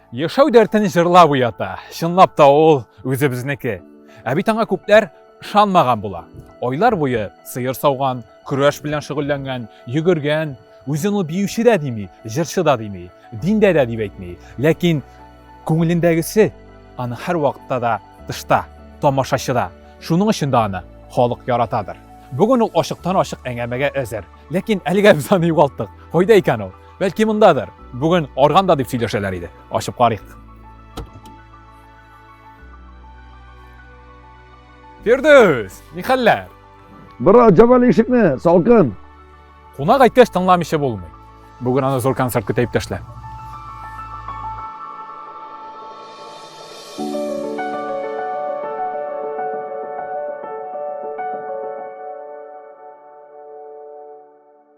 Яшәү дәртен җырлап уята. Чынлап та ул үзебезнеке. Ә бит аңа күпләр ышанмаган була. Айлар буе сыер сауган, көрәш белән шөгыльләнгән, йөгергән. Үзен ул биюче дә дими, җырчы да дими, диндә дә дип әйтми. Ләкин күңелендәгесе аны һәрвакытта да тышта, тамашачыда. Шуның өчен дә аны халык яратадыр. Бүген ул ачыктан-ачык әңгәмәгә әзер. Ләкин әлегә без аны югалттык. Кайда икән ул? Бәлки мондадыр. Бүген арганда дип сөйләшәләр иде. Ачып карыйк. Фирдүс, ни хәлләр? Бра, җабал ишекне, салкын. Кунак әйткәч тыңламыйча булмый. Бүген аны зур концерт көтә иптәшләр.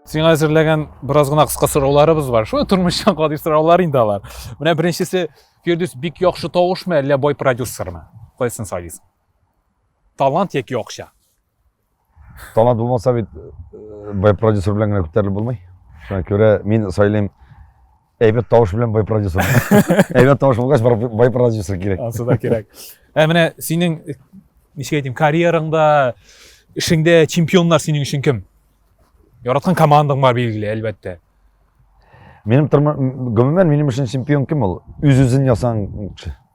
сиңа әзерләгән бераз гына кыска сорауларыбыз бар шулай тормыштан гади сораулар инде алар менә беренчесе фирдүс бик яхшы тавышмы әллә бай продюсермы кайсын сайлыйсың талант яки акча талант булмаса бит э, бай продюсер белән генә күтәрелеп булмый шуңа күрә мин сайлыйм әйбәт тавыш белән бай продюсер әйбәт тавыш булгач бай продюсер кирәк ансы да кирәк ә менә синең ничек әйтим карьераңда эшеңдә чемпионнар синең өчен кем яраткан командаң бар билгеле әлбәттә минем гомумән минем өчен чемпион кем ул үз үзен ясаган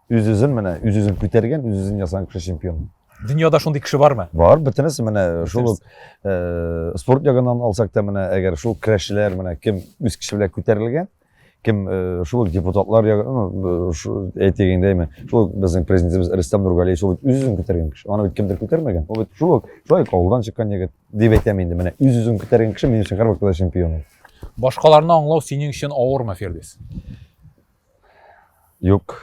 Үз-үзен менә, үз-үзен күтәргән, үз-үзен ясаган кеше чемпион. Дөньяда шундый кеше бармы? Бар, бөтенесе менә шул ук э, спорт ягыннан алсак та менә әгәр шул көрәшчеләр менә кем үз кеше белән күтәрелгән, кем э, шул ук депутатлар ягы, ну, шу- әйтик инде әйме, шул ук безнең президентыбыз Рөстәм Нургалиев шул бит үз-үзен күтәргән кеше. Аны бит кемдер күтәрмәгән. Ул бит шул ук шулай ук авылдан чыккан егет дип әйтәм инде менә үз-үзен күтәргән кеше минем өчен һәрвакытта чемпион. ул. Башкаларны аңлау синең өчен авырмы, Фирдис? Юк.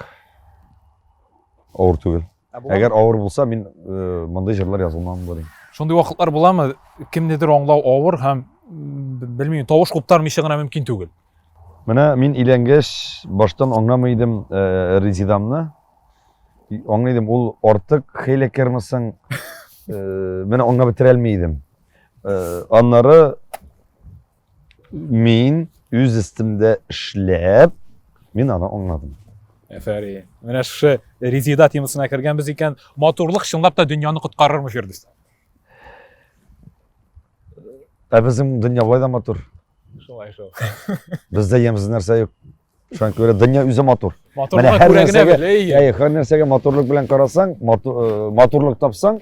Авыр түгел. Әгәр авыр булса, мин э, мондый җырлар язылмам булыр. Шундый вакытлар буламы? Кемнедер аңлау авыр һәм белмим, тавыш куптармыйча гына мөмкин түгел. Менә мин иләнгәч, баштан аңламый идем э, Резидамны. Аңлый идем, ул артык хәйләкәрмесең. Э, менә аңлап бетерә алмый идем. Э, аннары Мин үз өстемдә эшләп, мин аны аңладым. Әфәри. Менә шушы Резида темасына кергәнбез икән, матурлык чынлап та дөньяны коткарырмы Фирдүс? Ә безнең дөнья болай да матур. Шулай шул. Бездә ямьсез нәрсә юк. Шуңа күрә дөнья үзе матур. Менә һәр нәрсәгә, әйе, һәр нәрсәгә матурлык белән карасаң, э, матурлык тапсаң,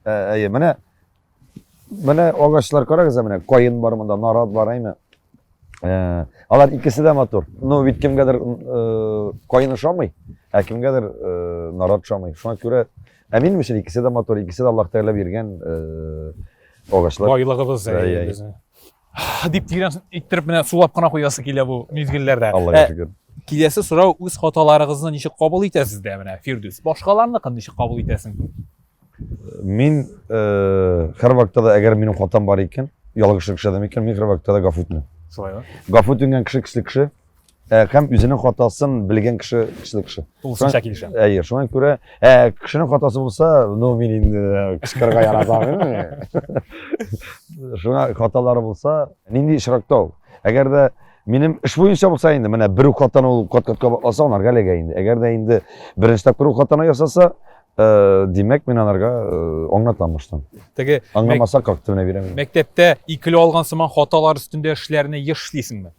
э, әйе, менә менә агачлар карагыз, менә каен бар монда, нарат бар, әйме. Э, алар икесе дә матур. Ну, бит кемгәдер каен ошамый, ә кемгәдер нарат ошамый. Шуңа күрә ә минем өчен икесе дә матур, икесе дә Аллаһ Тәгалә биргән агачлар. Байлыгыбыз әйе. Дип тирән иттереп менә сулап кына куясы килә бу мизгелләрдә. Аллага шөкер. Киләсе сорау үз хаталарыгызны ничек кабул итәсез дә менә Фирдүс. Башкаларныкын ничек кабул итәсең? Мин һәр вакытта да әгәр минем хатам бар икән, ялгышлык эшләдем икән, мин һәр вакытта да гафу үтенәм. Шулай гафу үтенгән кеше кеше кеше Ә, һәм үзенең хатасын белгән кеше көчле кеше. Тулысынча килешәм. Әйе, шуңа күрә, ә, кешенең хатасы булса, ну мин инде э, кычкырырга яратам. Шуңа хаталары булса, нинди очракта ул? Әгәр дә минем эш буенча булса инде, менә бер хатаны ул кат-катка алса, анарга эләгә инде. Әгәр дә инде беренче тапкыр ул хатаны ясаса, Э, димәк мин аларга э, аңлатам баштан теге аңламаса как ты менә бирәм мәктәптә икеле алган сыман хаталар өстендә эшләрне еш эшлисеңме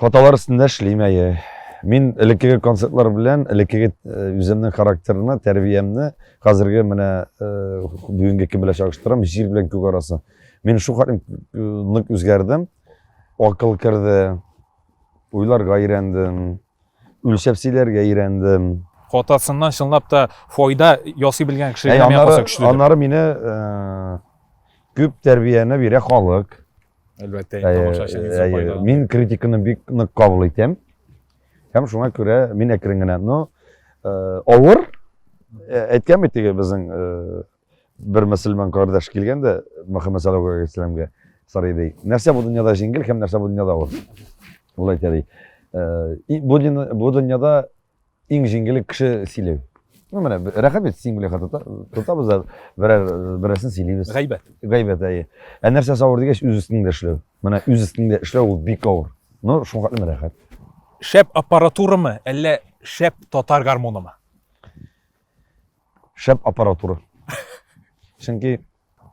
Хаталар өстендә эшлим, әйе. Мин элеккеге концертлар белән, элеккеге э, үземнең характерны, тәрбиямне хәзерге менә э, бүгенге кем белән чагыштырам, җир белән күк арасы. Мин шул хәтлем э, нык үзгәрдем. Акыл керде, уйларга өйрәндем, үлчәп сөйләргә өйрәндем. Хатасыннан чынлап та файда ясый белгән кеше генә миңа калса көчле. Аннары мине күп тәрбияне бирә халык. Әлбәттә, тамашачыңызга файда. Мин критиканы бик нык кабул итәм. Һәм шуңа күрә мин әкрен генә, но авыр әйткән бит теге безнең бер мөселман кардәш килгән дә Мөхәммәд саллаллаху алейхи вәсәләмгә сорый ди. Нәрсә бу дөньяда җиңел һәм нәрсә бу дөньяда авыр? Ул әйтә ди. Бу дөньяда Иң җиңеле кеше сөйләү. Ну, менә рәхәт бит син белән тотабыз да берәр берәрсен сөйлибез. Гайбәт. Гайбәт әйе. Ә нәрсә авыр дигәч, үз өстеңдә эшләү. Менә үз өстеңдә эшләү ул бик авыр. Ну, шуңа хәтле рәхәт. Шәп аппаратурамы, әллә шәп татар гармонымы? Шәп аппаратура. Чөнки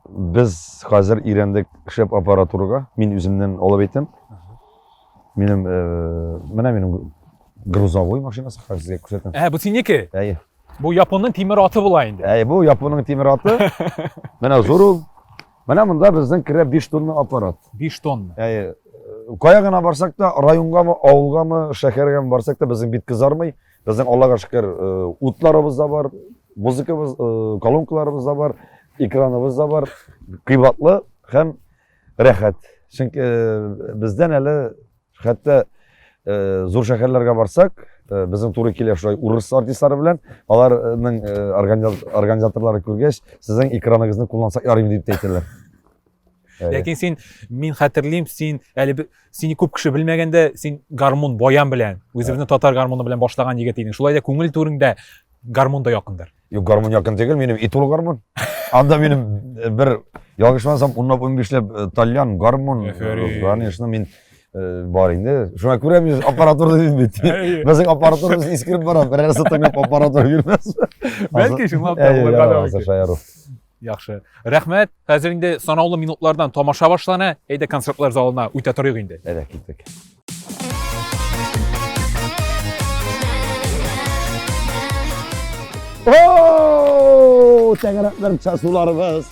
Без хәзер өйрәндек шәп аппаратурага. Мин үземнен алып әйтәм. Минем э, менә минем грузовой машинасы хәзер сезгә күрсәтәм. Ә, бу синеке? Әйе. Бу японның тимер аты була инде. Әйе, бу японның тимер аты. Менә зур ул. Менә монда безнең керә 5 тонна аппарат. 5 тонна. Әйе. Кая гына барсак та, районгамы, авылгамы, шәһәргәме барсак та безнең бит кызармый. Безнең Аллага шөкер, утларыбыз да бар, музыкабыз, колонкаларыбыз да бар, экраныбыз да бар. Кыйбатлы һәм рәхәт. Чөнки бездән әле хәтта зур шәһәрләргә барсак, безнең туры килә шулай урыс артистлары белән, аларның организаторлары күргәч, сезнең экраныгызны куллансак ярыймы дип әйтәләр. Ләкин син, мин хәтерлим, син әле сине күп кеше белмәгәндә, син гармун баян белән, үзебезнең татар гармуны белән башлаган егет идең. Шулай да күңел түреңдә гармун да якындыр. Юк, гармун якын түгел, минем итул гармун. Анда минем э, бер ялгышмасам, унлап унбишләп э, тальян гармун, э, конечно, мин бар инде. Шуңа күрә мин аппаратура дидем бит. Безнең аппаратурабыз искереп бара, берәрсе тыңлап аппаратура бирмәс. Бәлки шуңлап та булырга да мөмкин. Яхшы. Рәхмәт. Хәзер инде санаулы минутлардан тамаша башлана. Әйдә концертлар залына үтә торыйк инде. Әйдә киттек. О, тәгәрәкләр часуларыбыз.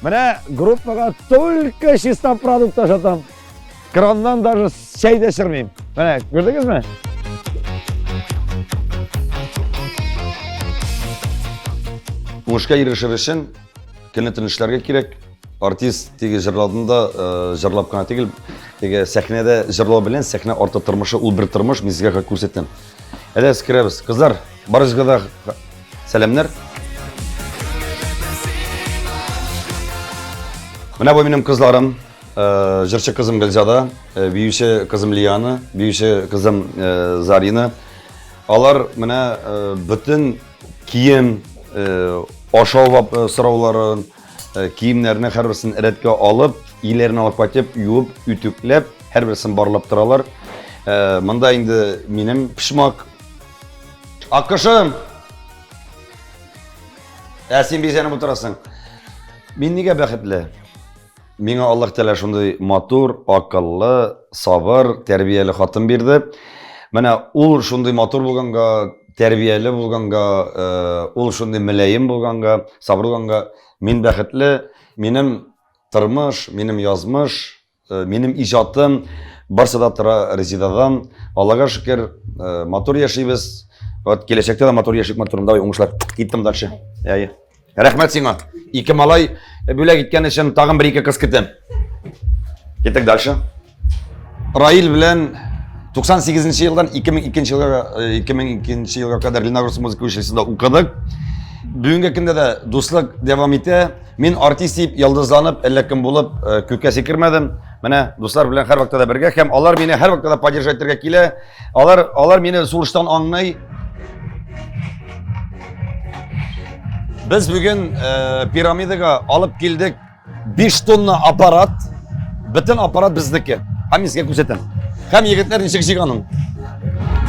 Менә группага только чиста продукт ашатам. Краннан даже сәй дә сөрмим. Менә, күрдегезме? Уңышка ирешер өчен көнне тынычларга кирәк. Артист теге җырладында э, җырлап кына түгел, теге сәхнәдә җырлау белән сәхнә арты тормышы ул бер тормыш, мин сезгә күрсәтәм. Әле керәбез. Кызлар, барыгызга да сәламнәр. Менә бу минем кызларым. Э, жырчы кызым Гөлзада, э, биюче кызым Лиана, биюче кызым э, Зарина. Алар менә бөтен кием, ашау сорауларын, киемнәрне һәрберсен рәткә алып, иләрен алып кайтып, юып, үтүкләп, һәрберсен барлап торалар. Монда инде минем пишмак. Акышым! Ә син бизәнеп утырасың. Мин нигә бәхетле? Миңа Аллаһ Тәгалә шундый матур, акыллы, сабыр, тәрбияле хатын бирде. Менә ул шундый матур булганга, тәрбияле булганга, ул шундый мөлаем булганга, сабыр булганга, мин бәхетле, минем тормыш, минем язмыш, минем иҗатым барсы да тора Резидадан. Аллага шөкер, матур яшибез. Вот киләчәктә дә матур яшик, матур. Давай, уңышлар. Киттем дальше. Әйе. Рәхмәт сиңа. Ике малай бүләк иткән өчен тагын бер ике кыз көтәм. Китик дальше. Раил белән 98 нче елдан 2002 елга 2002 елга кадәр Леногорск музыка училищесында укыдык. Бүгенге көндә дә дуслык дәвам итә. Мин артист дип ялдызланып, әллә кем булып э, күккә сикермәдем. Менә дуслар белән һәрвакытта да бергә һәм алар мине һәрвакытта да поддержать итәргә килә. Алар, алар мине сулыштан аңлый. Без бүген э, пирамидага алып килдек 5 тонна аппарат. Бөтен аппарат безнеке. Һәм сезгә күрсәтәм. Һәм егетләр ничек җиганын.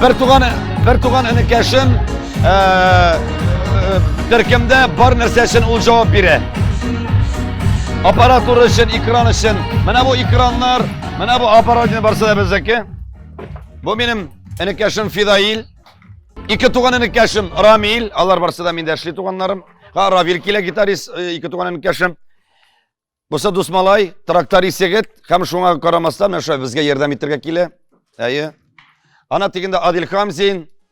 Бер туган, бер туган энекәшем э, э, төркемдә бар нәрсә өчен ул җавап бирә. Аппаратура өчен, экран өчен. Менә бу экраннар, менә бу аппарат барсы да безнеке. Бу минем энекәшем Фидаил. Ике туган энекәшем Рамил. Алар барсы да миндә эшли туганнарым. Ха, Равил килә гитарист, э, ике туган энекәшем. Буса дусмалай, тракторист егет, һәм шуңа карамастан, менә шулай безгә ярдәм итәргә килә. Әйе. Ана тигендә Адил Хамзин,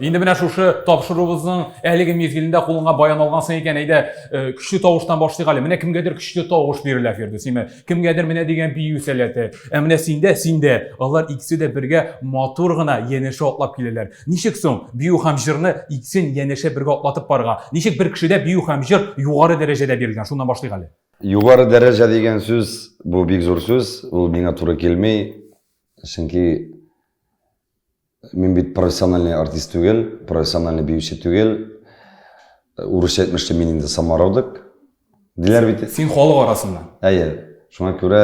Инде менә шушы тапшыруыбызның әлеге мизгелендә кулыңа баян алгансың икән, әйдә, э, көчле тавыштан башлыйк әле. Менә кемгәдер көчле тавыш бирелә Фирдүсиме? Кемгәдер менә дигән бию сәләте. Ә менә синдә, синдә, алар икесе дә бергә матур гына янәшә атлап киләләр. Ничек соң бию һәм җырны икесен янәшә бергә атлатып барырга? Ничек бер кешедә бию һәм җыр югары дәрәҗәдә бирелгән? Шуннан башлыйк әле. Югары дәрәҗә дигән сүз, бу бик зур сүз, ул миңа туры килми, чөнки Мин бит профессиональный артист түгел, профессиональный биюче түгел. Урысча әйтмешли мин инде самородок. Диләр бит. Син халык арасыннан. Әйе. Шуңа күрә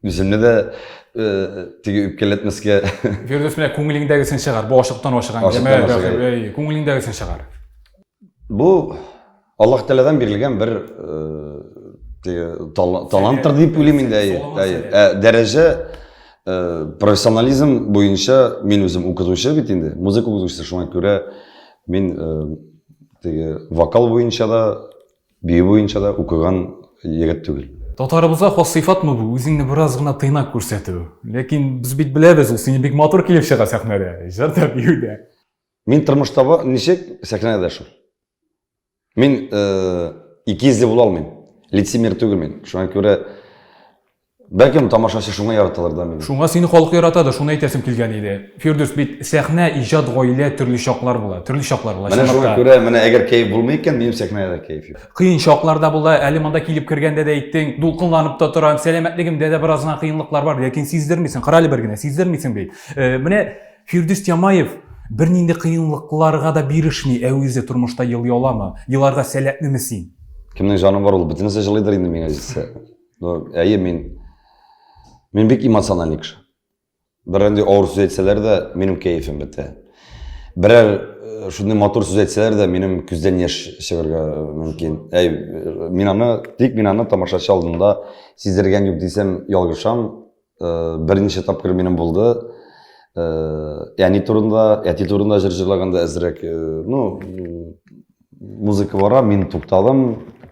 үземне дә э, теге үпкәләтмәскә. Фирдус менә күңелеңдәгесен чыгар. Бу ашыктан ашыган. Ашыктан ашыган. Күңелеңдәгесен чыгар. Бу Аллаһ Тәгаләдән бирелгән бер таланттыр дип уйлыйм инде, әйе. Әйе. Ә дәрәҗә профессионализм буенча мин үзем укытучы бит инде, музыка укытучысы, шуңа күрә мин теге вокал буенча да, бию буенча да укыган егет түгел. Татарыбызга хас сыйфатмы бу, үзеңне бераз гына тыйнак күрсәтү? Ләкин без бит беләбез, ул сине бик матур килеп чыга сәхнәдә, җырда, биюдә. Мин тормышта бар, ничек сәхнәдә дә шул. Мин э, икизле була алмыйм. Лицемер түгел мин. Шуңа күрә Бәлкем тамашачы шуңа яраталар да мені. Шуңа сине халык яратады, шуны әйтәсем килгән иде. Фирдүс бит сәхнә, иҗат, гаилә төрле чаклар була, төрле чаклар була. Менә шуңа күрә, менә әгәр кәеф булмый икән, минем сәхнәдә кәеф юк. Кыен чаклар да була, әле монда килеп кергәндә дә әйттең, дулкынланып та торам, сәламәтлегемдә дә бераз гына кыенлыклар бар, ләкин сиздермисең, карале бер генә, сиздермисең бит. Э, менә Фирдүс Тямаев бернинди кыенлыкларга да бирешми, ә үзе тормышта ел яламы, еларга сәләтлеме син? Кемнең җаны бар ул, бөтенесе җылыйдыр инде миңа җитсә. Ну, әйе, мин мин бик эмоциональный кеше. Берәндәй авыр сүз әйтсәләр дә, минем кәефем бетә. Берәр э, шундый матур сүз әйтсәләр дә, минем күздән яшь чыгарга э, мөмкин. Әй, э, мин аны, тик мин аны тамашачы алдында сиздергән юк дисәм, ялгышам. Берничә тапкыр минем булды. Әни турында, әти турында җыр җырлаганда әзрәк, ну, музыка бара, мин тукталдым,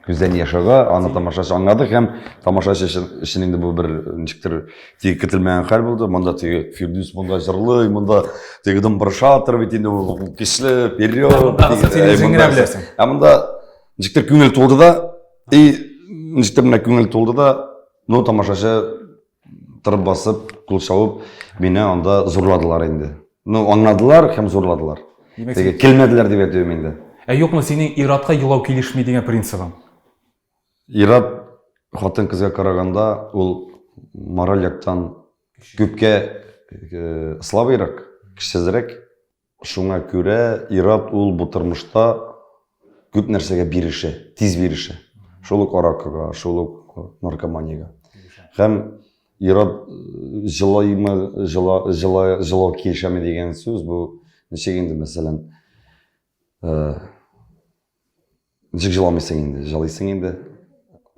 күздән яшь ага, аны тамашачы аңлады һәм тамашачы өчен инде бу бер ничектер теге көтелмәгән хәл булды. Монда теге Фирдүс монда җырлый, монда теге домбыршатор бит инде ул көчле, вперед. Ә монда ничектер күңел тулды да, и ничектер менә күңел тулды да, Ну, тамашачы тырып басып, кул шауып, мине анда зурладылар инде. Ну, аңладылар һәм зурладылар. Теге килмәделәр дип әйтүем инде. Ә юкмы синең иратка елау килешми дигән принцибың? Ират хатын кызга караганда ул мораль яктан күпкә э, слабыйрак, көчсезрәк. Шуңа күрә ир-ат ул бу тормышта күп нәрсәгә бирешә, тиз бирешә. Шул ук аракыга, шул ук наркоманиягә. Һәм ир-ат җылыймы, җыла, җыла, җылау килешәме дигән сүз бу ничек инде, мәсәлән, э, Ничек җыламыйсың инде? Җылыйсың инде.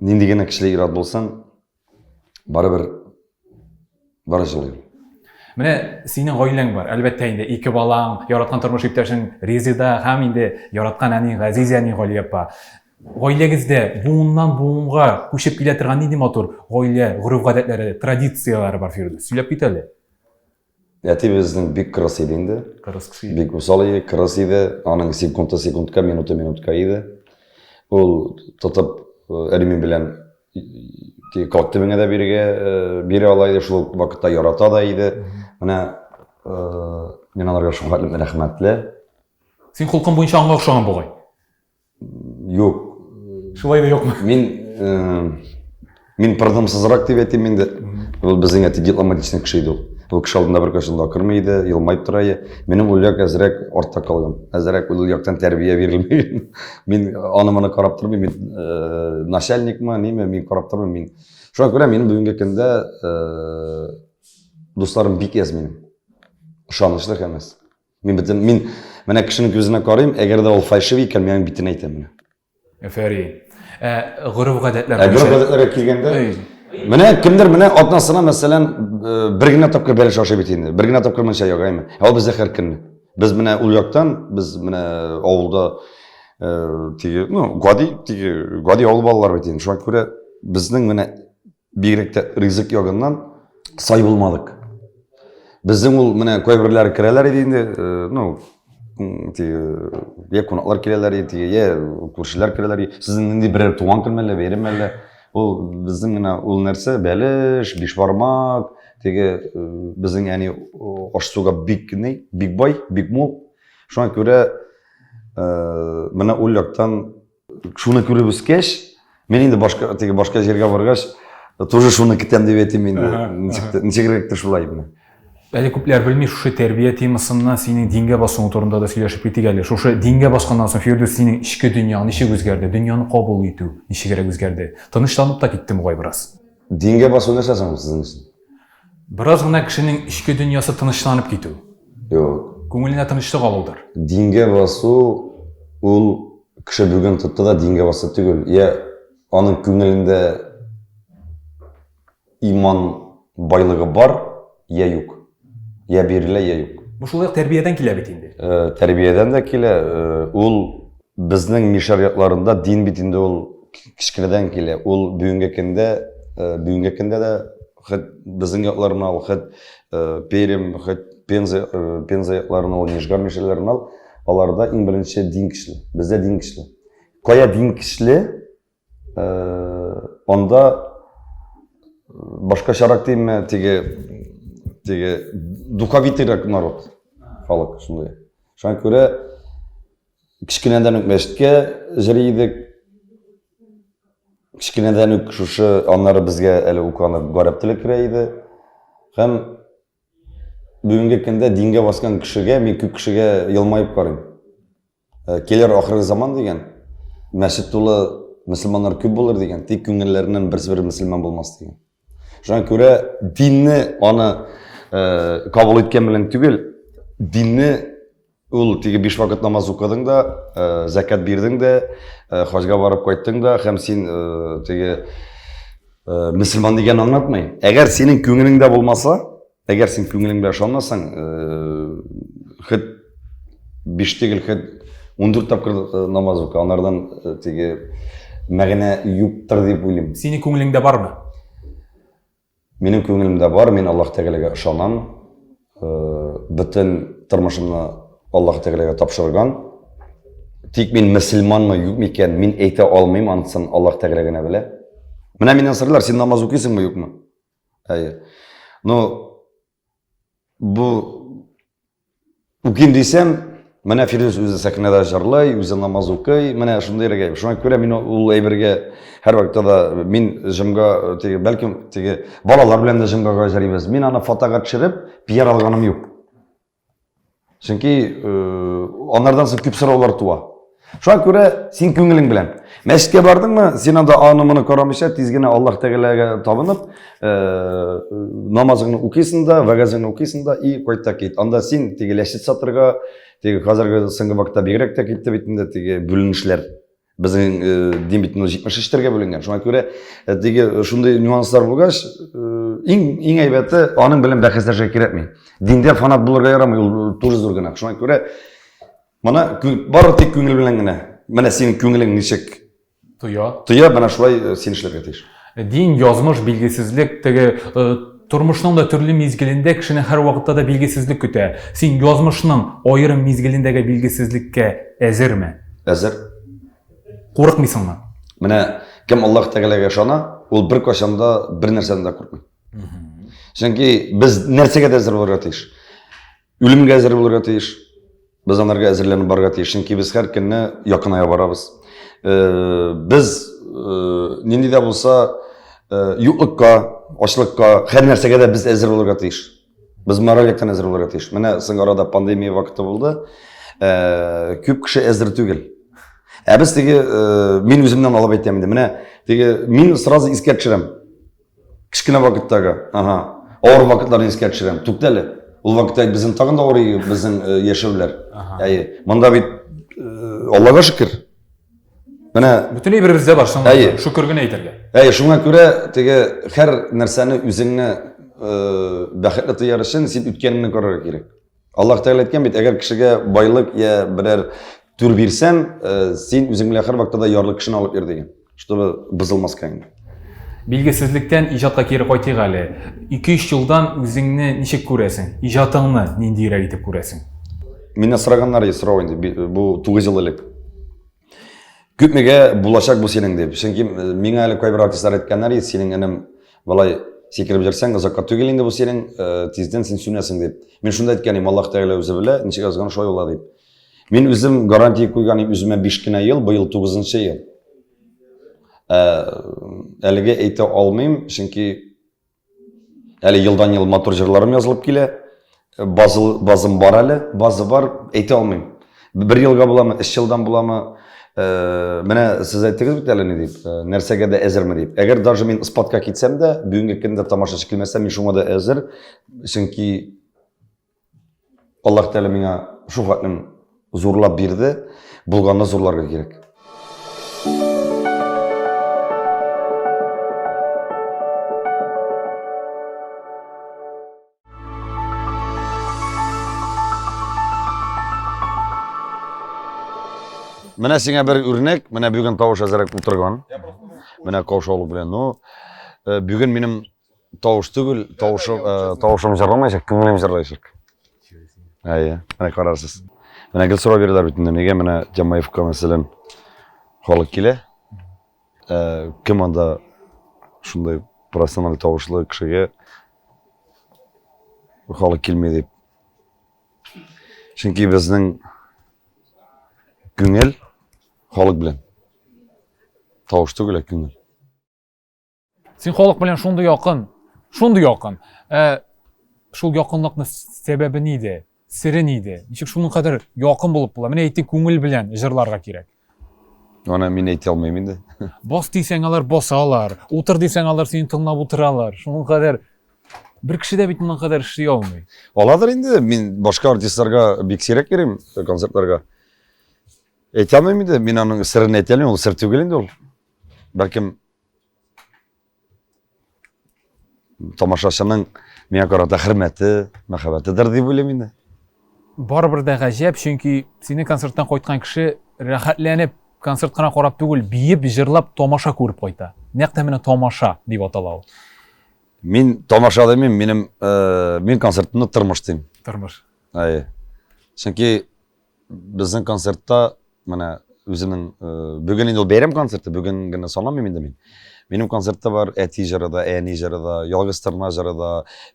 Нинди генә кешеләр ират булсаң, барыбер бары җылый. Менә синең гаиләң бар, әлбәттә инде, ике балаң, яраткан тормыш иптәшең Резида һәм инде яраткан әни Газиз әни Гали апа. Гаиләгездә буыннан буынга күчеп килә торган нинди матур гаилә гореф-гадәтләре, традицияләре бар, Фирдүс? Сөйләп кит әле. Әти безнең бик кырыс иде инде. Кырыс кеше иде. Бик усал иде, кырыс иде. Аның секунда секундка, минута минутка иде. Ул тотып алюмин белән калт төбеңә дә бирегә бирә ала иде, шул вакытта ярата да иде. Менә мин аларга шуңа рәхмәтле. Син холкың буенча аңа охшаган бугай. Юк. Шулай да юкмы? Мин э, мин продымсызрак дип әйтим инде. Ул безнең әти дипломатичный кеше иде ул. Ул кеше алдында бер кашын да акырмый иде, елмаеп тора иде. Минем уллык әзрәк артта калган. Әзрәк ул яктан тәрбия бирелмәгән. Мин аны моны карап тормыйм, мин э, начальникмы, неме, мин карап тормыйм, мин. Шуңа күрә минем бүгенге көндә э, дусларым бик әз минем. Ышанычлы һәм әз. Мин бетем, мин менә кешенең күзенә карыйм, әгәр дә ул фальшивый икән, мин битен әйтәм менә. Әфәрин. Ә гореф-гадәтләр Ә гореф-гадәтләргә килгәндә, менә кемдер менә атнасына, мәсәлән, бер генә тапкыр бәлеш ашый бит инде. Бер генә тапкыр мунча ягаймы? Ә ул бездә һәр көнне. Без менә ул яктан, без менә авылда теге, ну, гади, теге, гади авыл балалары бит инде. Шуңа күрә безнең менә Бигрәк тә ризык ягыннан сай булмадык. Безнең ул менә кайберләре керәләр иде инде, э, ну, я кунаклар киләләр иде, я күршеләр керәләр иде. Сезнең нинди берәр туган көн мәллә, бәйрәм мәллә? Ул безнең менә ул нәрсә, бәлеш, бишбармак, теге э, безнең әни аш-суга бик ни, бик бай, бик мул. Шуңа күрә э, менә ул яктан Шуны күреп үскәч, мин инде башка теге башка җиргә баргач, тоже шуны көтәм дип әйтим инде. Ничек ничегрәктер шулай инде. Әле күпләр белми шушы тәрбия темасына синең дингә басуың турында да сөйләшеп китик әле. Шушы дингә басканнан соң Фирдүс синең эчке дөньяң ничек үзгәрде? Дөньяны кабул итү ничегрәк үзгәрде? Тынычланып та китте бугай бераз. Дингә басу нәрсә соң сезнең өчен? Бераз гына кешенең эчке дөньясы тынычланып китү. Юк. Күңеленә тынычлык алудыр. Дингә басу ул кеше бүген тотты да дингә басты түгел. Я аның күңелендә иман байлыгы бар, я юк. Я бирелә, я юк. Бу шулай ук тәрбиядән килә бит инде. Тәрбиядән дә килә. Ул безнең мишәр якларында дин бит инде ул кечкенәдән килә. Ул бүгенге көндә, бүгенге көндә дә Хәт безнең якларына ал, хәт э, Перем, хәт Пенза, э, Пенза якларына ал, Нижгар мишәләренә ал, аларда иң беренче дин көчле. Бездә дин көчле. Кая дин көчле, э, анда башкачарак димме, теге теге духовитыйрак народ, халык шундый. Шуңа күрә Кечкенәдән үк мәчеткә җыри идек. Кечкенәдән үк шушы аннары безгә әле үк аны гарәп теле керә иде. Һәм бүгенге көндә дингә баскан кешегә, мин күп кешегә елмаеп карыйм. Э, Келер ахыры заман дигән, мәчет тулы мөселманнар күп булыр дигән, тик күңелләреннән берсе-бер мөселман булмас дигән. Шуңа күрә динне аны э, кабул иткән белән түгел, динне ул теге биш вакыт намаз укыдың да, э, зәкәт бирдең дә, э, хаҗга барып кайттың да, һәм син э, теге э, мөселман дигән аңлатмый. Әгәр синең күңелеңдә булмаса, Әгәр син күңелең белән ышанмасаң, хет биш тигел, хет 14 тапкыр э, намаз ука, анардан э, теге мәгънә юктыр дип уйлыйм. Синең күңелеңдә бармы? Минем күңелемдә бар, мин Аллаһ Тәгаләгә ышанам. Э, бөтен тормышымны Аллаһ Тәгаләгә тапшырган. Тик мин мөселманмы, юкмы икән, мин әйтә алмыйм, анысын Аллаһ Тәгалә генә белә. Менә миннән сырлар, син намаз укыйсыңмы, юкмы? Әйе. Но бу үким дисәм, менә Фирдүс үзе сәхнәдә җырлый, үзе намаз укый, менә шундый рәгәй. Шуңа күрә мин ул әйбергә һәр вакытта да мин җымга теге бәлкем теге балалар белән дә җымга гажарибез. Мин аны фотога төшереп, пиар алганым юк. Чөнки э, аннардан соң күп сораулар туа. Шуңа күрә син күңелең белән. Мәчеткә бардыңмы, син анда аны моны карамыйча, тиз генә Аллаһ Тәгаләгә табынып, э, намазыңны укыйсың да, вәгазыңны укыйсың да и кайт та кит. Анда син теге ләшет сатырга, теге хәзерге соңгы вакытта бигрәк тә китте бит инде теге бүленешләр. Безнең э, димит 73 терге бүленгән. Шуңа күрә э, теге э, шундый нюанслар булгач, иң иң әйбәте аның белән бәхәсләшә кирәкми. Диндә фанат булырга ярамый, ул туры зур гына. Шуңа күрә моны бары тик күңел белән генә. Менә синең күңелең ничек тоя. Тоя, менә шулай син эшләргә тиеш. Дин, язмыш, билгесезлек, теге Тормышның да төрле мизгелендә кешене һәрвакытта да билгесезлек көтә. Син язмышның аерым мизгелендәге билгесезлеккә әзерме? Әзер. Курыкмыйсыңмы? Менә кем Аллаһ Тәгаләгә ышана, ул бер кайчан да бер нәрсәдән дә курыкмый. Чөнки без нәрсәгә дә әзер булырга тиеш. Үлемгә әзер булырга тиеш. Без анарга әзерләнеп барырга тиеш, чөнки без һәр көнне якыная барабыз. Э, без э, нинди дә булса э, юклыкка, ачлыкка, һәр нәрсәгә дә без әзер булырга тиеш. Без мораль яктан әзер булырга тиеш. Менә соң арада пандемия вакыты булды. Күп кеше әзер түгел. Ә без теге мин үземнән алып әйтәм инде. Менә теге мин сразу искә төшерәм. Кечкенә вакыттагы, ага. Авыр вакытларны искә төшерәм. Туктале. әле. Ул вакытта безнең тагын да авыр безнең э, яшәүләр. Әйе. Монда бит э, Аллага шөкер. Менә бөтенләй беребездә бар соң. Әйе. Шөкер генә әйтергә. Әйе, шуңа күрә теге һәр нәрсәне үзеңне э, бәхетле тояр өчен син үткәнеңне күрергә кирәк. Аллаһ Тәгалә әйткән бит, әгәр кешегә байлык я берәр түр бирсәм, э, син үзең белән һәрвакытта да ярлы кешене алып йөр дигән, чтобы бозылмаска инде. Билгесезлектән иҗатка кире кайтыйк әле. 2-3 елдан үзеңне ничек күрәсең? Иҗатыңны ниндиерәк итеп күрәсең? Миннән сораганнар, сорау инде, бу 9 ел элек. Күпмегә булачак бу синең дип. Чөнки миңа әле кайбер артистлар әйткәннәр иде, синең энем болай сикереп җөрсәң, озакка түгел инде бу синең, тиздән син сүнәсең дип. Мин шунда әйткән идем, Аллаһ Тәгалә үзе белә, ничек язган шулай була дип. Мин үзем гарантия куйган идем үземә 5 кенә ел, быел 9 нчы ел. Әлегә әйтә алмыйм, чөнки Әле елдан-ел матур җырларым язылып килә. Базы, базым бар әле, базы бар, әйтә алмыйм. Бер елга буламы, өч елдан буламы? Э, менә сез әйттегез бит әле ни дип, э, нәрсәгә дә әзерме дип. Әгәр даже мин спадка китсәм дә, бүгенге көндә тамашачы килмәсә, мин шуңа да әзер, чөнки Аллаһ Тәгалә миңа шул хатның зурлап бирде, булганны зурларга кирәк. Менә сиңа бер үрнәк, менә бүген тавыш әзерәк утырган. Менә каушаулык белән. Ну, э, бүген минем Тавыш түгел, тавышым, ә, тавышым җырламаячак, күңелем җырлаячак. Әйе, менә карарсыз. Менә гел сорау бирәләр бит инде, нигә менә Җамаевка мәсәлән халык килә? Ә, кем анда шундый профессиональ тавышлы кешегә халык килми дип. Чөнки безнең күңел халык белән. Тавыш түгел, ә күңел. Син халык белән шундый якын, шундый якын. Ә шул якынлыкны сәбәбе нидә? Сире нидә? Ничек шуның кадәр якын булып була? Менә әйтте, күңел белән җырларга кирәк. Аны мин әйтә алмыйм инде. Бас дисәң алар басалар, утыр дисәң алар сине тыңлап утыралар. Шуның кадәр бер кеше дә бит моның кадәр эшли алмый. Аладыр инде, мин башка артистларга бик сирәк йөрим э, концертларга. Әйтә алмыйм инде, мин аның сырын әйтә алмыйм, ул сыр түгел инде ул. Бәлкем тамашачының миңа карата хөрмәте, мәхәббәтедер дип уйлыйм инде. Барыбер дә гаҗәп, чөнки синең концерттан кайткан кеше рәхәтләнеп концерт кына карап түгел, биеп, җырлап тамаша күреп кайта. Нәкъ тә менә тамаша дип атала ул. Мин тамаша димим, минем э, мин концертны тормыш дим. Тормыш. Әйе. Чөнки Безнең концертта менә үзенең э, бүген инде ул бәйрәм концерты, бүген генә санамыйм инде мин. Минем концертта бар әти җыры да, әни җыры да, ялгыз тырна җыры да,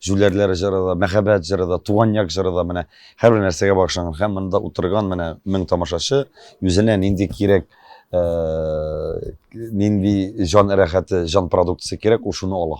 җүләрләр җыры да, мәхәббәт җыры да, туган як җыры да менә һәрбер нәрсәгә багышланган. Һәм монда утырган менә мең тамашачы үзенә нинди кирәк э, нинди җан рәхәте, җан продукциясе кирәк, ул шуны ала.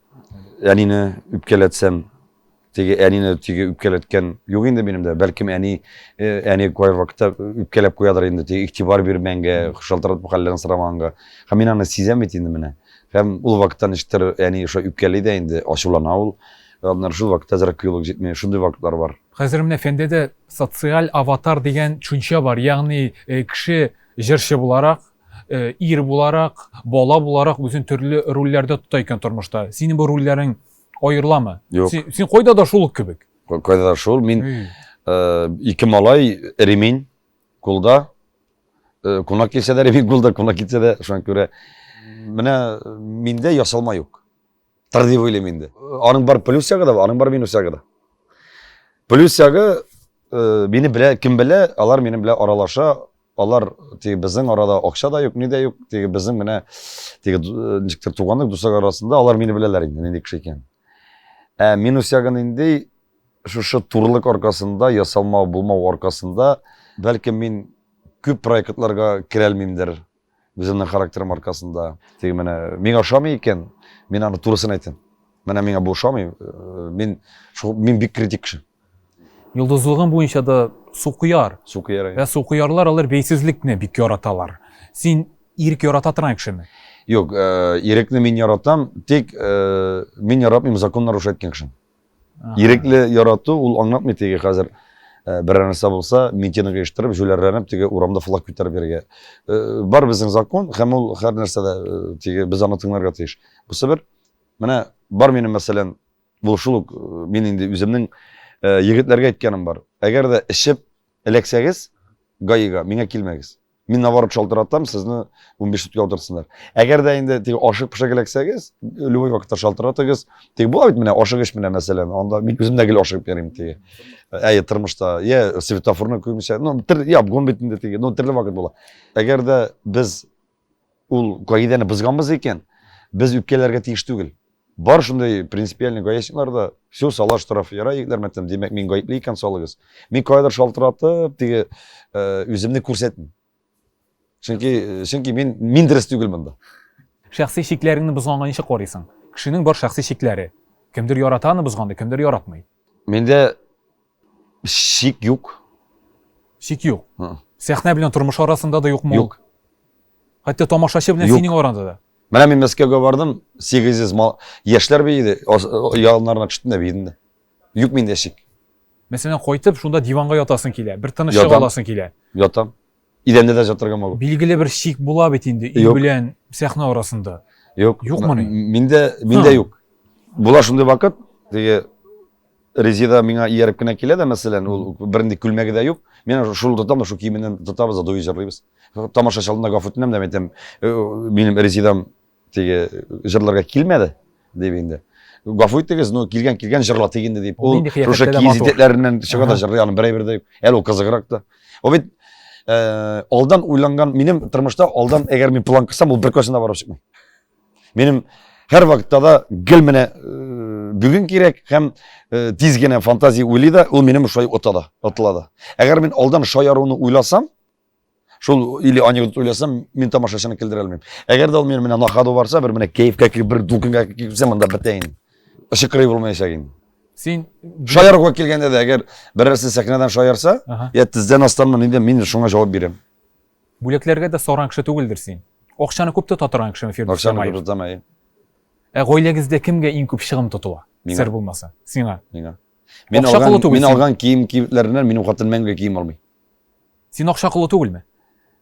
Әнине үпкәләтсәм, теге әнине теге үпкәләткән юк инде минем дә. Бәлкем әни э, әни кай вакытта үпкәләп куядыр инде, теге игътибар бирмәнгә, шалтыратып хәлләрен сорамаганга. Һәм мин аны сизәм бит инде менә. Һәм ул вакытта ничектер әни ошо үпкәли дә инде, ачулана ул. Аннары шул вакытта зрак кыюлык җитми, шундый вакытлар бар. Хәзер менә фәндәдә социаль аватар дигән төшенчә бар, ягъни э, кеше җырчы буларак, ир буларак, бала буларак үзен төрле рольләрдә тота икән тормышта. Синең бу рольләрең аерыламы? Юк. Син, син кайда да шул ук кебек. Кайда да шул. Мин э, ике малай, ремень кулда. Э, кунак килсә дә ремень кулда, кунак китсә дә шуңа күрә. Менә миндә ясалма юк. Тыр дип уйлыйм инде. Аның бар плюс ягы да бар, аның бар минус ягы да. Плюс ягы э, мине белә, кем белә, алар минем белән аралаша, алар теге безнең арада акча да юк, ни дә юк, теге безнең менә теге э, ничектер туганлык, дуслар арасында алар мине беләләр инде, нинди кеше икән. Ә минус ягы нинди? Шушы турлык аркасында, ясалма булмау аркасында, бәлкем мин күп проектларга керәлмимдер. Үземнең характерым аркасында. Теге менә миңа ошамый икән, мин аны турысын әйтәм. Менә миңа бу ошамый, э, мин шул мин бик критик кеше. Йолдызлыгың буенча да сукыяр. Сукыяр. Вә сукыярлар алар бәйсезлекне бик яраталар. Син ирек ярата торган кешеме? Юк, э, ирекне мин яратам, тик э, мин яратмыйм закон нарушать иткән кешене. Ирекле ярату, ул аңлатмый теге хәзер э, берәр нәрсә булса, митинг оештырып, җүләрләнеп теге урамда флаг күтәреп йөрергә. Э, бар безнең закон һәм ул һәр нәрсәдә э, теге без аны тыңларга тиеш. Бусы бер менә бар минем мәсәлән, бу шул ук мин инде үземнең егетләргә әйткәнем бар. Әгәр дә эчеп эләксәгез, гаига миңа килмәгез. Мин наоборот шалтыратам, сезне 15 суткә утыртсыннар. Әгәр дә инде тик ашык пешә киләксәгез, любой вакытта шалтыратыгыз. Тик була бит менә ашык эш менә мәсәлән, анда мин үзем дә гел ашык берим тиге. Әйе, тормышта, я светофорны күмсә, ну, тер, я обгон бит инде тиге, ну, төрле вакыт була. Әгәр дә без Ул кагыйдәне бозган булса икән, без үпкәләргә тиеш түгел. Бар шундый принципиальный гаечниклар да, все, сала штраф, ярай, егетләр, мәтәм, димәк, мин гаепле икән, салыгыз. Мин кайдыр шалтыратып, теге үземне күрсәтмим. Чөнки, чөнки мин мин дөрес түгел монда. Шәхси чикләреңне бозганга ничек карыйсың? Кешенең бар шәхси чикләре. Кемдер ярата аны бозганды, кемдер яратмый. Миндә Шик юк. Шик юк. Сәхнә белән тормыш арасында да юкмы ул? Юк. Хәтта тамашачы белән синең араңда да. Менә мин Мәскәүгә бардым, 800 мал яшьләр биеде, яннарына төштем дә биедем дә. Юк миндә шик. Мәсәлән, кайтып шунда диванга ятасың килә, бер тынычлык аласың килә. Ятам. Идәндә дә жап торган могу. Билгеле бер шик була бит инде өй Юк. белән сәхнә арасында. Юк. Юкмы ни? М- Миндә, миндә Ха. юк. Була шундый вакыт, теге Резеда миңа ияреп кенә килә дә, мәсәлән, ул бернинди күлмәге дә юк. Мин ана шул тотам да шул киеменнән тотабыз да дуи җырлыйбыз. Тамашачы алдында гафу үтенәм дә, әйтәм, «Э, минем Резедам Теге җырларга килмәде дип инде. Гафу итегез, ну килгән килгән җырла тигенде дип. Ул шушы киез итәкләреннән чыга да җырлый аны берәй бердә. Әле ул кызыграк та. Ул бит э, алдан уйланган, минем тормышта алдан әгәр мин план кысам, ул бер кашына барып чыкмый. Минем һәр вакытта да гел менә э, бүген кирәк һәм э, тиз генә фантазия уйлый да, ул минем шулай ота да, отыла да. Әгәр мин алдан шаяруны уйласам, Шул или анекдот уйласам, мин тамашачыны килдерә алмыйм. Әгәр дә ул мин менә на ходу барса, бер менә кәефкә килеп, бер дулкынга килеп китсә, монда бетә инде. Ышык кырый булмаячак инде. Син шаяруга килгәндә дә, әгәр берәрсе сәхнәдән шаярса, я тиздән астан мин дә мин шуңа җавап бирәм. Бүләкләргә дә саран кеше түгелдер син. Акчаны күп тота торган кешеме Фирдүс Акчаны күп тотам, әйе. Ә гаиләгездә кемгә иң күп чыгым тотыла? Сер булмаса. Сиңа. Миңа. Мин алган, мин алган кием-кибетләреннән минем хатын мәңге кием алмый. Син акча колы түгелме?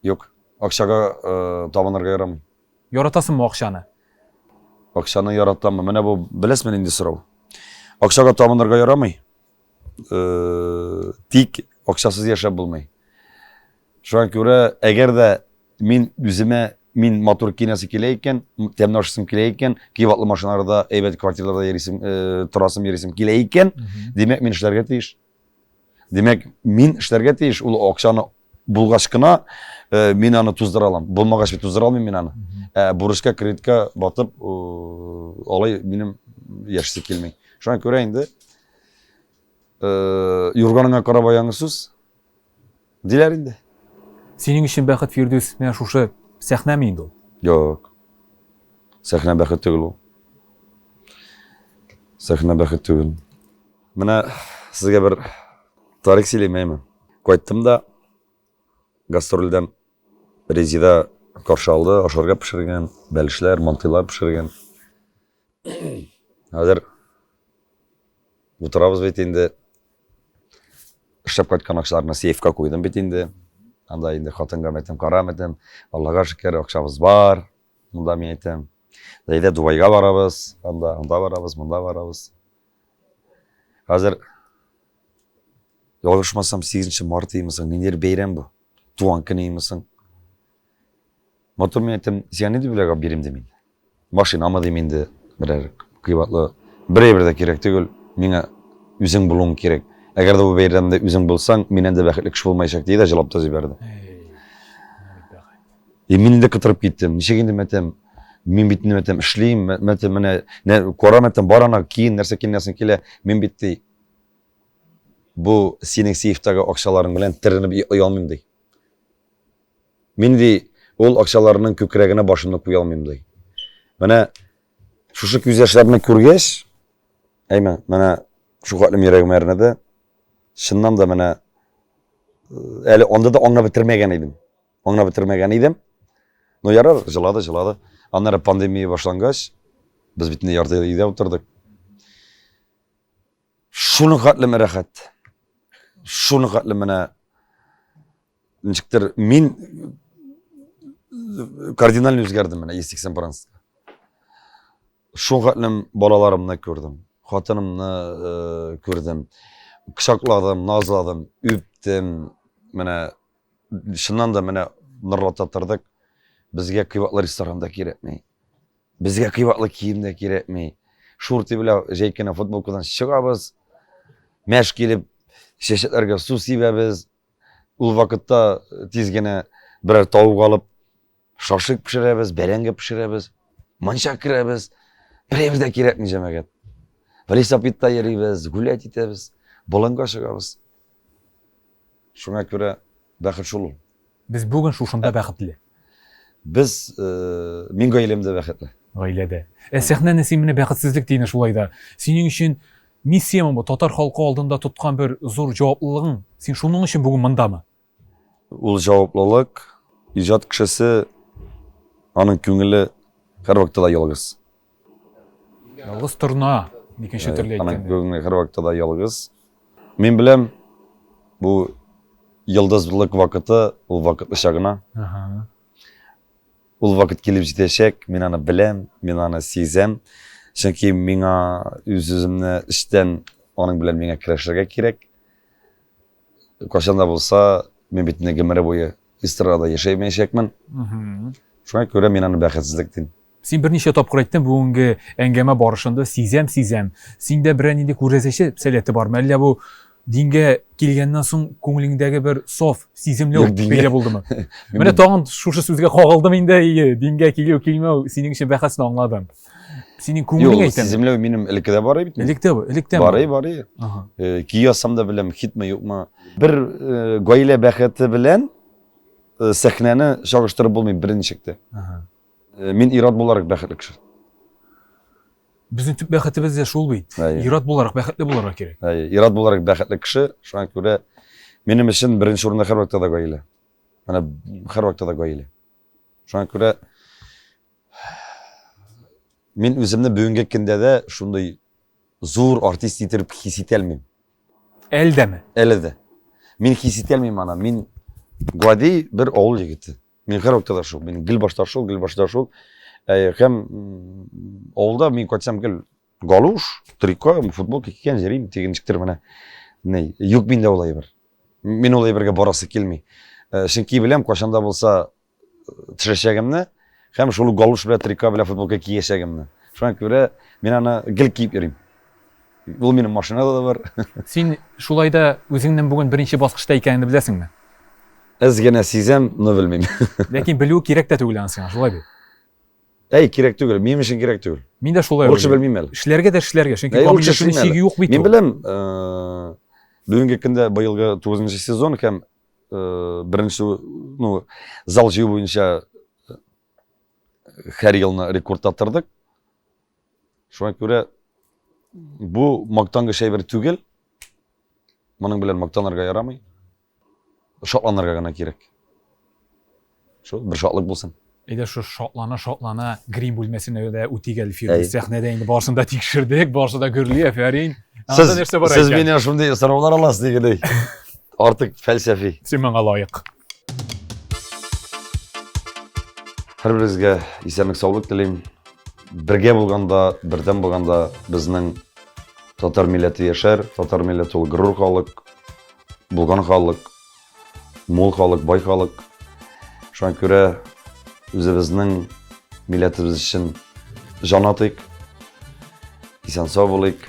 Юк, акчага табынырга ярамый. Яратасыңмы акчаны? Акчаны яратамы? Менә бу беләсме инде сорау. Акчага табынырга ярамый. Тик акчасыз яшәп булмый. Шуңа күрә, әгәр дә мин үземә мин матур кинәсе килә икән, тәмле ашасым килә икән, кыйбатлы машиналарда, әйбәт квартираларда йөрисем, э, торасым йөрисем килә икән, димәк, мин эшләргә тиеш. Димәк, мин эшләргә тиеш, ул акчаны булгач кына э, мин аны туздыра алам. Булмагач туздыра алмыйм мин аны. Ә э, бурычка, кредитка батып, алай минем яшисе килми. Шуңа күрә инде э, юрганыңа карап аяңы сүз. Диләр инде. Синең өчен бәхет, Фирдүс, менә шушы сәхнәме инде ул? Юк. Сәхнә бәхет түгел ул. Сәхнә бәхет түгел. Менә сезгә бер тарих сөйлим әйме. Кайттым да гастрольдән Резида каршы алды, ашарга пешергән, бәлешләр, мантыйлар пешергән. Хәзер утырабыз бит инде. Эшләп кайткан акчаларны сейфка куйдым бит инде. Анда инде хатынга мәйтәм, кара мәйтәм. Аллага шөкер, акчабыз бар. Монда мин әйтәм. Әйдә Дубайга барабыз, анда, анда барабыз, монда барабыз. Хәзер ялгышмасам 8 март имисың, нидер бәйрәм бу. Туган көне имисың. Мотор мин әйтәм, сиңа нинди бүләк алып бирим дим инде. Машинамы дим инде, берәр кыйбатлы. Бер әйбер дә кирәк түгел, миңа үзең булуың кирәк. Әгәр дә бу бәйрәмдә үзең булсаң, миннән дә бәхетле кеше булмаячак, диде дә җылап та җибәрде. И мин инде кытырып киттем. Ничек инде мәтәм? Мин бит инде мәтәм эшлим, мәтәм менә, кара мәтәм бар ана киен, нәрсә киенәсең килә. Мин бит ди. Бу синең сейфтагы акчаларың белән теренеп оялмыйм ди. Мин, ди, ул акчаларның күкрәгенә башымны куя алмыйм, ди. Менә шушы күз яшьләрне күргәч, әйме, менә шу катлым йөрәгем әрнеде. Чыннан да менә әле анда да аңлап бетермәгән идем. Аңлап бетермәгән идем. Но ярар, җылады, җылады. Аннары пандемия башлангач, без бит инде ярты ел өйдә утырдык. Шуның хәтле мә рәхәт. Шуның хәтле менә ничектер мин кардинально үзгәрдем менә Истик Сен-Пранска. Шуның хәтлем балаларымны күрдем, хатынымны э, күрдем, кочакладым, назладым, үптем. Менә шуннан да менә нырлата тордык. Безгә кыйбатлы ресторанда кирәкми. Безгә кыйбатлы кием дә кирәкми. Шурты белән җәй кенә футболкадан чыгабыз. Мәш килеп, чәчәкләргә су сибәбез. Ул вакытта тиз генә берәр тавык алып, шашик пешерәбез, бәрәңге пешерәбез. Манча керәбез. Берәйбер дә кирәкми җәмәгать. Велосипедта йөрибез, гулять итәбез, болынга чыгабыз. Шуңа күрә бәхет шул ул. Без бүген шушында бәхетле. Без, мин гаиләмдә бәхетле. Гаиләдә. Ә сәхнәне син менә бәхетсезлек диене шулай да. Синең өчен миссиямы бу, татар халкы алдында тоткан бер зур җаваплылыгың? Син шуның өчен бүген мондамы? Ул җаваплылык, иҗат кешесе, аның күңеле һәрвакытта да ялгыз. Ялгыз торна, икенче төрле әйткәндә. Ана бүгенге һәр вакытта да ялгыз. Мин беләм, бу йолдызлык вакыты, ул вакытлыча гына. Ул вакыт килеп җитәчәк, мин аны беләм, мин аны сизәм. Чөнки миңа үз-үземне эчтән аның белән миңа көрәшергә кирәк. Кайчан да булса, мин бит инде гомере буе эстрадада яшәмәячәкмен. Шуңа күрә мин аны бәхетсезлек дим. Син берничә тапкыр әйттең бүгенге әңгәмә барышында, сизәм, сизәм. Синдә берәр нинди күрәзәче сәләте бармы? Әллә бу дингә килгәннән соң күңелеңдәге бер соф сиземле бәйлә булдымы? Менә тагын шушы сүзгә кагылдым инде, дингә килү, килмәү синең өчен бәхәсне аңладым. синең күңелең әйтә сиземләү минем элекке дә бар бит электә электә барый барый э, көй язсам да беләм хитме юкмы бер э, гаилә бәхете белән э, сәхнәне чагыштырып булмый беренчекте мин ират буларак бәхетле кеше безнең төп бәхетебез дә шул бит ират буларак бәхетле булырга кирәк ират буларак бәхетле кеше шуңа күрә минем өчен беренче урында һәрвакытта да гаилә менә һәрвакытта да гаилә Шуңа күрә мин үземне бүгенге көндә дә шундый зур артист итеп хис итә алмыйм. Әле дәме? Әле дә. Мин хис итә алмыйм аны. Мин гади бер авыл егете. Мин һәр вакытта да шул. Мин гел башта шул, гел башта шул. Һәм авылда мин кайтсам гел Галуш, трико, футболка кигән йөрим, тигенчектер менә. Ни, юк миндә ул әйбер. Мин ул әйбергә барасы килми. Э, чөнки беләм, кашанда булса э, төшәчәгемне, һәм шул галуш белән трико белән футболка киячәгемне. Шуңа күрә мин аны гел киеп йөрим. Ул минем машинада да бар. Син шулай да үзеңнең бүген беренче баскычта икәнен беләсеңме? Әз генә сизәм, но белмим. Ләкин белү кирәк тә түгел ансың, шулай бит. Әй, кирәк түгел, минем өчен кирәк түгел. Мин дә шулай Урысча белмим әле. Эшләргә дә эшләргә, чөнки камилләшүнең чиге юк бит. Мин беләм, бүгенге көндә быелгы 9 нчы сезон һәм беренче, ну, зал җыю буенча һәр елны рекорд таптырдык. Шуңа күрә бу мактангыч әйбер түгел. Моның белән мактанырга ярамый. Шатланырга гына кирәк. Шул, бер шатлык булсын. Әйдә шул шатлана-шатлана грим бүлмәсенә дә үтик әле, Фирдүс. Сәхнәдә инде барысын да тикшердек, барысы да гөрли, әфәрин. Сез, нәрсә бар сез миннән шундый сораулар аласыз дигәндәй. Артык фәлсәфи. Син моңа лаек. Һәрберегезгә исәнлек саулык телим. Бергә булганда, бердәм булганда безнең татар милләте яшәр, татар милләте ул горур халык. булган халык, мул халык, бай халык. Шуңа күрә үзебезнең милләтебез өчен жан атыйк, исән сау булыйк.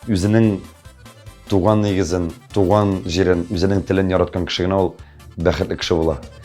Үзенең туган нигезен, туган җирен, үзенең телен яраткан кеше генә ул бәхетле кеше була.